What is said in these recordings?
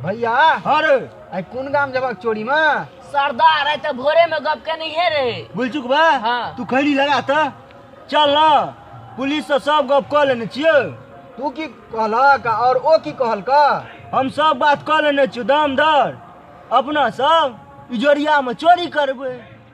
भैया अरे आई कोन गाम जबाक चोरी में सरदार है तो भोरे में गप के नहीं है रे बोल चुक बा हाँ। तू खैली लगा त चल ना पुलिस से सब गप कह लेने छियो तू की कहलक और ओ की कहलक हम सब बात कह लेने छियो दाम दर अपना सब इजोरिया में चोरी करबै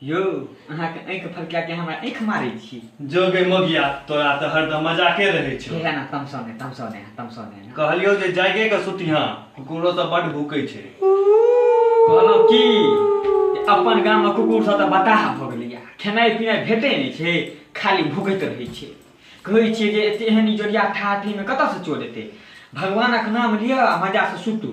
यौ अहाँके आँखि फड़का के हमरा आँखि मारै छी जो गे मगिया तोरा तऽ हरदम मजाके रहै छौ हे ना तमसो ने तमसो ने तमसो ने कहलियौ जे जागे के सुतिहा कुकुरो तऽ बड भूकै छै कहलहुँ की जे अपन गाम में कुकुर सब तऽ बताह भऽ गेलैया खेनाइ पिनाइ भेटै नहि छै खाली भूकैत रहै छै कहै छियै जे एते एहन इजोरिया ठाठी में कतऽसँ चोर एतै भगवानक नाम लिअ आ मजासँ सुतू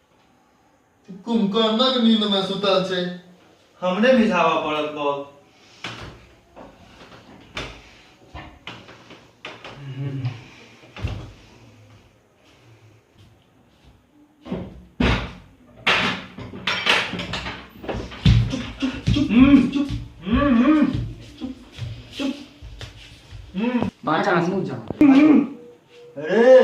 कुंभकर्णक नींद में सुतल छै हमरे मिझावा पड़त बहुत बाचा मुझा अरे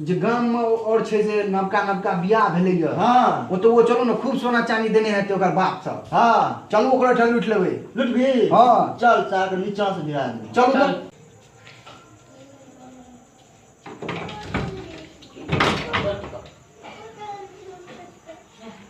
जे गाम में और छै जे नवका नवका बियाह भेले ये हाँ ओतो वो चलो ना खूब सोना चांदी देने हेते ओकर बाप सब हाँ चलू ओकरो ठा लूट लेबे लुटबी हाँ चल चाह के नीचा से गिरा दे चलू तो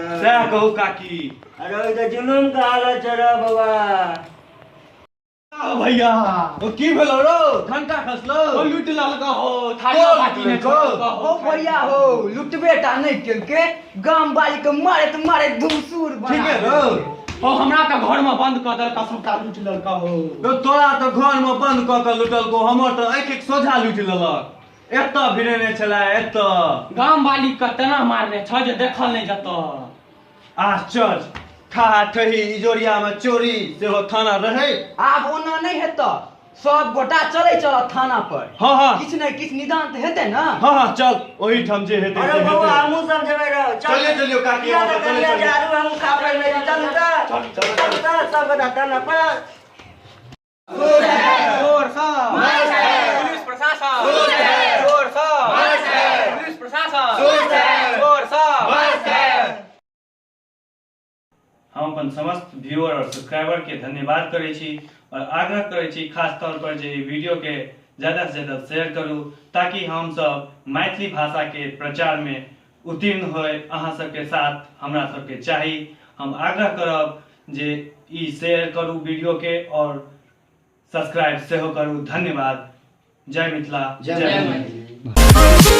सएह कहू काकी अरे ओहि तऽ जुलूम के हालत छै रे बौआ आ भैया ओ की भेलो रो ठंडा खसलो ओ लूट ललका हो थारिया ओ, बाटी ने को। ललका हो ओ भैया हो लुटबे टा नहीं केलके गाम वाली के मारत मारत धूसुर बना ठीक है रो ओ हमरा तऽ घर में बंद कऽ देलका सबटा लूट ललका हो तो तोरा तो घर में बंद कऽ के लुटल को हमर तो एक एक सोझा लूट लेलक एतऽ भिड़ेने छला एतऽ गाम वाली के तेना मारने छ जे देखल नहि जत आश्चर्य ठहा ठही इजोरिया में चोरी सेहो थाना रहे आब ओना नहि हेत सब गोटा चले चल थाना पर हाँ हाँ किछु ने किछु निदान तऽ हेतै ने हाँ हाँ चल ओही ठाम जे हेतै अरे से बौआ हेतै। हमहूँ सब जेबै रहो चलिए, चलिए, काकी, किया हमहूँ तऽ सब चलिए, कहिया चलिए। जारू हमहूँ खा पड़ि रही चल तऽ चल तऽ सब गोटा थाना पर हम अपन समस्त व्यूअर और सब्सक्राइबर के धन्यवाद करे छी और आग्रह करे छी खास तौर पर जे वीडियो के ज्यादा से ज्यादा शेयर करू ताकि हम सब मैथिली भाषा के प्रचार में उत्तीर्ण होए अहाँ सबके साथ हमरा सबके चाही हम आग्रह करब जे ई शेयर करू वीडियोके आओर सब्सक्राइब सेहो करू धन्यवाद जय मिथिला जय जय मैथिली। मैथिली